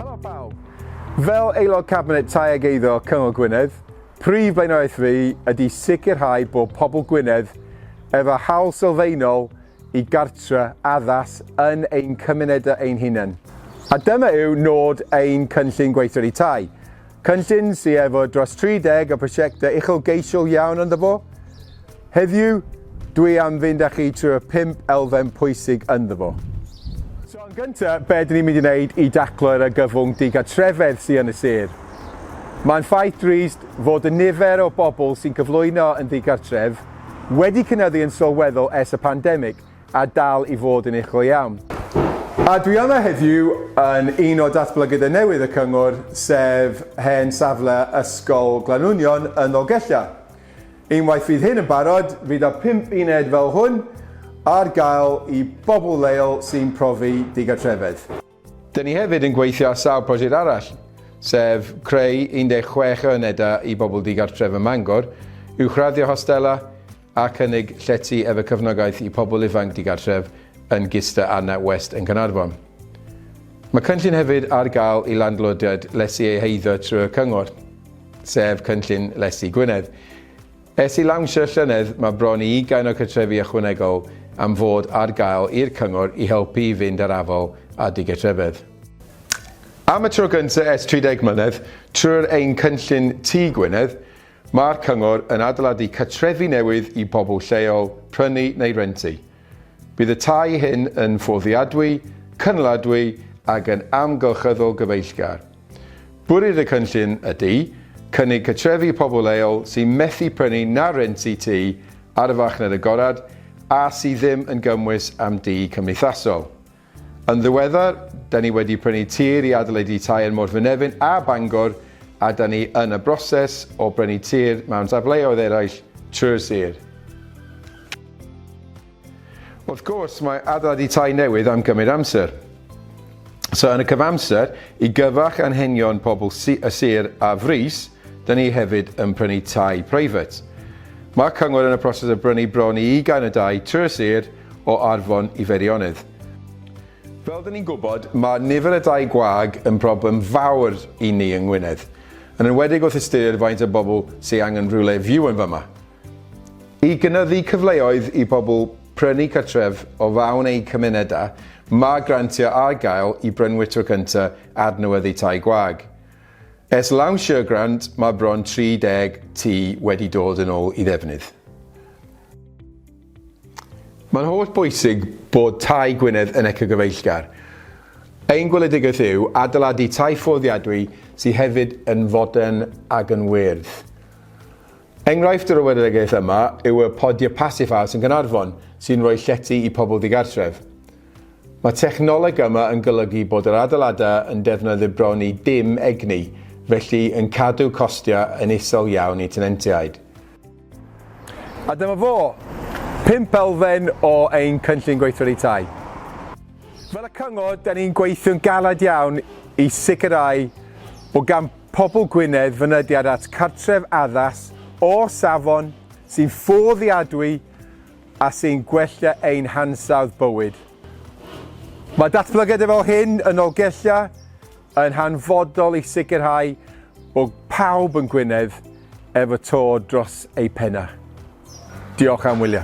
Helo pawb! Fel aelod Cabinet Tai ag Eiddo Cyngor Gwynedd, prif blaenoriaeth fi ydy sicrhau bod pobl Gwynedd efo hawl sylfaenol i gartre addas yn ein cymunedau ein hunain. A dyma yw nod ein cynllun gweithredu tai. Cynllun sy efo dros 30 o prosiectau uchelgeisiol iawn ynddo fo. Heddiw, dwi am fynd â chi trwy'r pump elfen pwysig ynddo fo. So, yn gynta, be ydyn ni'n mynd i wneud i daclo'r argyfwng digartrefedd sy yn y sir? Mae'n ffaith drist fod y nifer o bobl sy'n cyflwyno yn ddigartref wedi cynyddu yn sylweddol ers y pandemig, a dal i fod yn eich go iawn. A dwi yma heddiw yn un o datblygydau newydd y cyngor, sef hen safle Ysgol Glanunion yn Nolgella. Unwaith fydd hyn yn barod, fydd y pump uned fel hwn ar gael i bobl leol sy'n profi digartrefedd. Dyn ni hefyd yn gweithio ar sawl prosiect arall, sef creu 16 o unedau i bobl digartref ym Mangor, uwchraddio hostelau a chynnig llety efo cefnogaeth i pobl ifanc digartref yn Gista a NatWest yn Caernarfon. Mae cynllun hefyd ar gael i landlordiaid lesu eu heiddo trwy'r cyngor, sef cynllun Lesu Gwynedd. Ers ei lawnsio llynedd, mae bron i ugain o gartrefi ychwanegol am fod ar gael i'r cyngor i helpu i fynd ar afal â digartrefedd. Am y tro gyntaf ers 30 mlynedd, trwy'r ein cynllun Tŷ Gwynedd, mae'r cyngor yn adeiladu cartrefi newydd i bobl lleol prynu neu rentu. Bydd y tai hyn yn fforddiadwy, cynaliadwy ac yn amgylchyddol gyfeillgar. Bwriad y cynllun ydy cynnig cartrefi pobl leol sy'n methu prynu na rhentu tŷ ar y farchnad agored a sydd ddim yn gymwys am dŷ cymdeithasol. Yn ddiweddar, da ni wedi prynu tir i adolydu tai yn Morfynefin a Bangor a da ni yn y broses o brynu tir mewn safleoedd eraill trwy'r sir. Wrth gwrs, mae adeiladu tai newydd am gymryd amser. So yn y cyfamser, i gyfarch anghenion pobl y sir a frys, da ni hefyd yn prynu tai preifat. Mae cyngor yn y proses o brynu bron i ugain o dai trwy'r sir o Arfon i Feirionydd. Fel da ni'n gwybod, mae nifer y dai gwag yn broblem fawr i ni yng Ngwynedd, yn enwedig wrth ystyried faint o bobl sy'n angen rhywle fyw yn fama. I gynyddu cyfleoedd i bobl prynu cartref o fawn eu cymunedau, mae grantiau ar gael i brynwyr tro cyntaf adnewyddu tai gwag. Ers lawnsio'r grant, mae bron 30 tŷ wedi dod yn ôl i ddefnydd. Mae'n holl bwysig bod Tai Gwynedd yn ecogyfeillgar. Ein gweledigaeth yw adeiladu tai fforddiadwy sydd hefyd yn fodern ac yn wyrdd. Enghraifft yr oweregeaeth yma yw y Podiau Passifas yn Gaernarfon sy'n rhoi llety i pobl digartref. Mae technoleg yma yn golygu bod yr adeiladau yn defnyddio bron i dim egni, felly yn cadw costiau yn isel iawn i tenantiaid. A dyma fo! Pump elfen o ein cynllun gweithredu tai. Fel y cyngor, 'da ni'n gweithio'n galed iawn i sicrhau bod gan pobl Gwynedd fynediad at cartref addas o safon sy'n fforddiadwy a sy'n gwella ein hansawdd bywyd. Mae datblygiadau fel hyn yn Nolgella yn hanfodol i sicrhau bod pawb yn Gwynedd efo to dros eu pennau. Diolch am wylio.